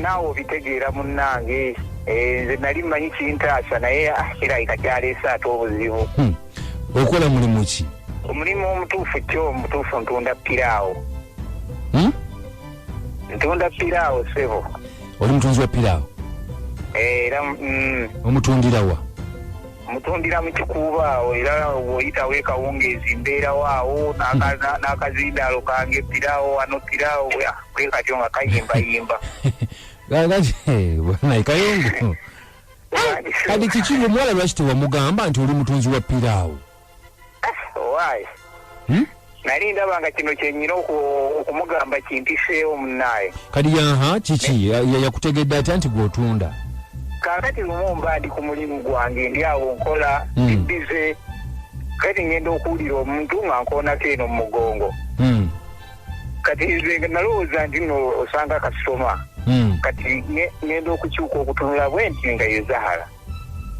naawe obitegeera munnange eh, nze nali mmanyi kintaasa naye ah, kirabika kyaleese ate obuzibu hmm. okola mulimu ki omulimu omutuufu kyo omutuufu ntunda piraawo hmm? ntunda piraawo sebo oli mutunzi wa piraawo eh, era mm. omutundirawa mutundira mu kikuubo awo era bwoyitawo ekawungeezi mbeerawo awo n'akazindaalo kange pirawo wano pirawo kwe katyo nga kayimbayimba bwanaye kayungu kati kiki omuwala lwaki tewamugamba nti oli mutunzi wa piraawo Why? Hmm? nali ndaba nga kino kyenyina okumugamba kimpiseewo munaye kati yaha kiki yakutegedde atya nti gwotunda kakati lumu mba ndi ku mulimu gwange ndi awo nkola hmm. bize kati ngenda okuwulira omuntu nga nkoonako eno mu mugongo hmm. kati nze nalowooza nti no osanga kasitoma hmm. kati ngenda okukyuka okutunula bwenti nga yezahala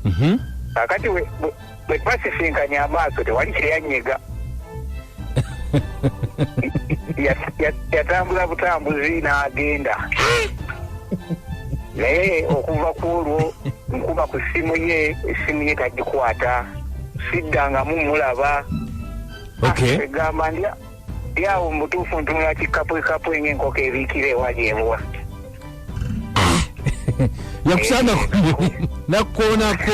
Mhm. kakati we- we- bwe twasisinkanye amaaso tewali kyeyanyega Ya- ya- yatambula butambuzi n'agenda naye okuva ku olwo nkuba ku ssimu ye essimu ye tagikwata siddangamu mulaba Okay. egamba ndya Yawo mu butuufu ntunula kikkapwekapu enyo enkoko ebiikira ewa gyebuwa. yakusanga nakkoonako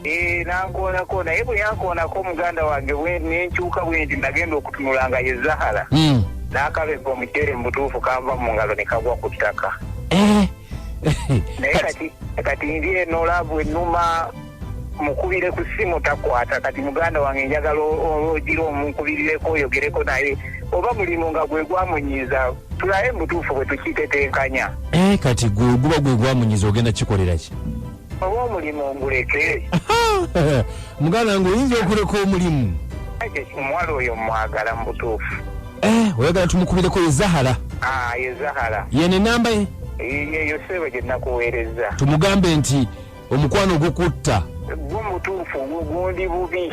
eh, nankoonako naye bwe yankoonako muganda wange nenkyuka bwendi nagenda okutunula nga ye zahara hmm. n'akabega omuceere mu butuufu kanva mu ngalo ne kagwa ku ttaka eh. naye kati kati ndi eno laavu ennuma mukubire ku ssimu takwata kati muganda wange njagala ogira omunkubirireko oyogereko naye oba mulimu nga gwe gwamunyiiza tulabe mubutuufu bwe tukitetenkanya eh, kati gwe guba gwe gwamunyiiza ogenda kikolera ki oba omulimu nguleke muganda wange oyinza okuleka omulimu omuwala oyo mwagala mu butuufu eh, oyagala tumukubireko ye zahara ah, ye zahara yene namba ye yeyo sebo gye nakuweereza tumugambe nti Omukwano gukutta. Gwo mutuufu gwo gundi bubi.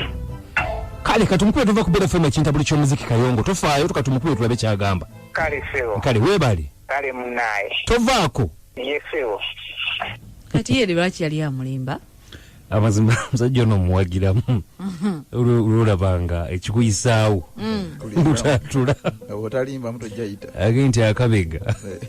Kale katumukube tuva ku Bella FM ekinta buli ky'omuziki kayongo tofaayo tukatumukube tulabe kyagamba. Kale sebo. Kale weebale. Kale munaye. Tovaako. Ye sebo. Kati yeri lwaki yali amulimba? amazima musajja ono omuwagiramu mhm. lwolabanga ekikuyisaawo mm. lutatula agee nti akabega eh.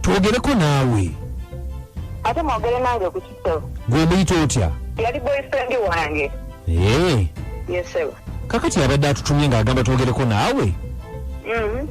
twogereko naawe ate mwogere nange ku kitabo gwemuyita otya yali boyfriend wange ee yesebo kakati abadde atutumye ng'agamba twogereko naawe mm-hmm.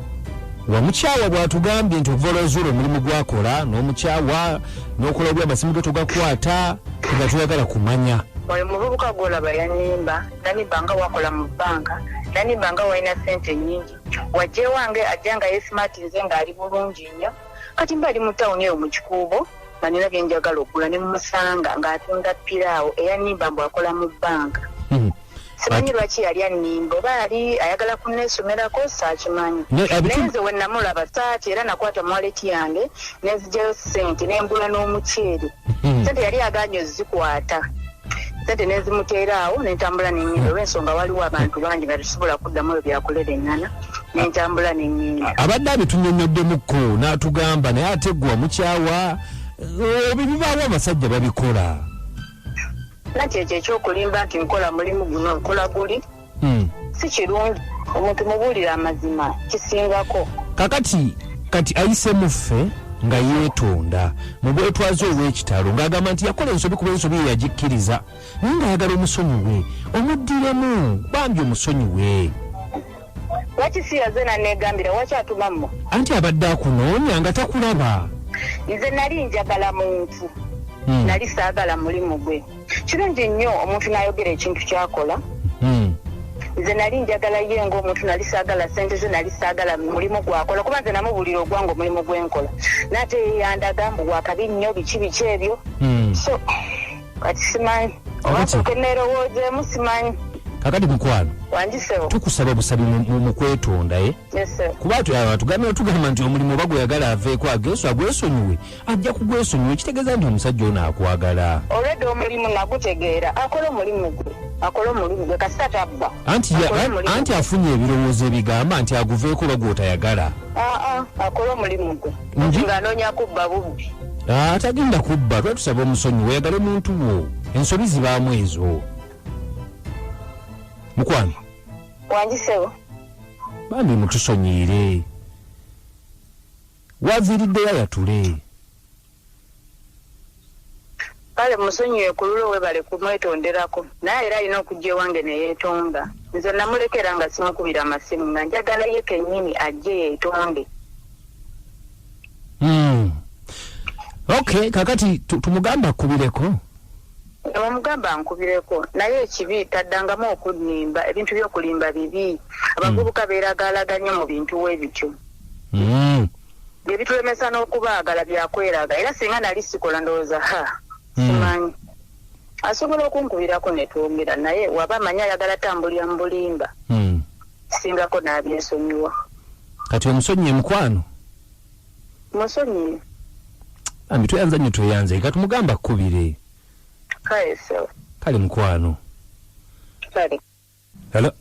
wamukyawa bw'atugambye nti okuva olwazuula omulimu gwakola n'omukyawa n'okola obi amasimu ge tugakwata nga tuyagala kumanya oyo muvubuka gwolaba yanimba nanimba nga wakola mu bbanka nanimba nga walina sente nyingi wajja ewange ajja nga yesimaati nze ng'ali bulungi nnyo kati mba ali mu tawuni eyo mu kikuubo nga nina bye njagala okugula ne mumusanga ng'atunda piraawo eyannimba mbu akola mu bbanka Hmm. simanyi lwaki yali annimba oba yali ayagala kunneesomerako saakimanyi Ne- naye abitu- nze we namulaba saati era nakwata mwaleti yange nenzigyayo ssente ne mbula n'omuceere Hmm. ssente yali agaanye ozikwata sente nezimuteeraawo nentambula nenyinda olwensonga waliwo abantu bangi nga tesobola kuddamu ebyo byakulera eŋŋana nentambula nenyinda abadde abitunyonyoddemukko n'atugamba naye ate gwe wamukyawa eh, ebyo bibaawo abasajja babikola nakyo ekyo ekyokulimba nti nkola mulimu guno nkola guli Hmm. si kirungi omuntu mubuulira amazima kisingako kakati kati ayise muffe nga yeetonda mu bwetwaze obw'ekitalo ng'agamba nti yakola ensobi kuba ensobi ye yagikkiriza naye ng'ayagala omusonyiwe omuddiremu bambi omusonyiwe lwaki si yaze naneegambira waki atuma mmu anti abadde akunoonya nga takulaba nze nali njagala muntu Hmm. nali saagala mulimu gwe kirungi nnyo omuntu n'ayogera ekintu kyakola hmm. nze nali njagala ye ngaomuntu nali saagala sente ze nali saagala mulimu gwakola kuba nze namubulira ogwange omulimu gwenkola naate yeyandaga mbu wakabi nnyo biki biki ebyo hmm. so kati simanyi obasoke neerowoozeemu simanyi kakati mukwano tukusaba busabi mukwetondaye eh? kuba tugamba nti omulimu oba gweyagala aveeko ageso agwesonyiwe Ajja kugwesonyiwa ekitegeza nti omusajja ono akwagala. Already omulimu nagutegeera akole omulimu gwe akole omulimu gwe kasita tabba. Anti, ya, anti afunye ebirowoozo ebigamba nti aguveeko oba gwotayagala. Aa akole omulimu gwe nga anoonya kubba bubbi. Ah, tagenda kubba lwa tusaba omusonyi weyagale muntu wo ensobi zibaamu ezo mukwano wangisewo bambi mutusonyiire Waviiridde yaya tulee. Kale musonyiwe kululo webale kumwetonderako naye era alina okujja ewange neyetonda nze namuleka era nga simukubira masimu nga njagala ye kenyini ajje yetonde mm. ok kakati tumugambe akubireko omugamba nkubireko naye ekibi taddangamu okulimba ebintu byokulimba bibi abavubuka hmm. beeragaalaganye mu bintu webityo hmm. byebitulemesa n'okubaagala byakweraga era singa nali sikola ndowooza ha hmm. simanyi asobola okunkubirako netwongera naye waba amanyi ayagala tambulira mu bulimba singako n'abyesonyiwa kati omusonyiye mukwano musonyiye ambi tweyanza nyo tweyanza eka tumugamba kubire kale so kale mukwano kale hello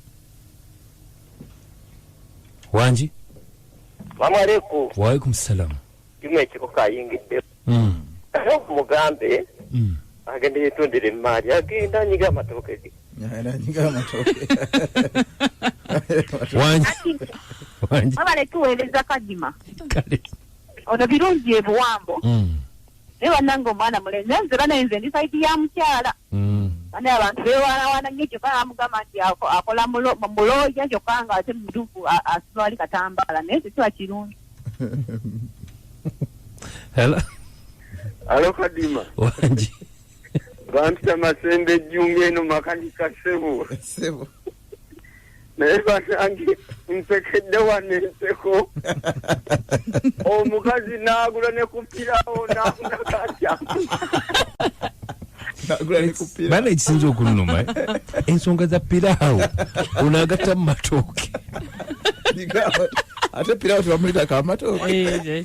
wangi mamwaleku waalaikum salam kimu ekiko kayingidde mm. mugambe mm. agenda yetundira emmaali agenda nyiga amatooke ge wabale tuweereza kadima ono birungi ebuwambo mm. naye banange omwana mulenzi nze banaye nze ndi saidi ya mukyala mm. bane abantu bewalawana nyo kyokka amugamba nti akola muloja kyokka nga ate muduku asitwali katambala naye tekiba kirungi hello hello kadima wangi bampita masembe ejjunga eno makanika ssebo ssebo naye banange nsekedde wano enseko omukazi naagula ne kupirawo naafuna katya bana ekisinza okunuma eh? ensonga za piraawo onagatta mu matooke ate piraawo tebamulita kamatooke eh, eh,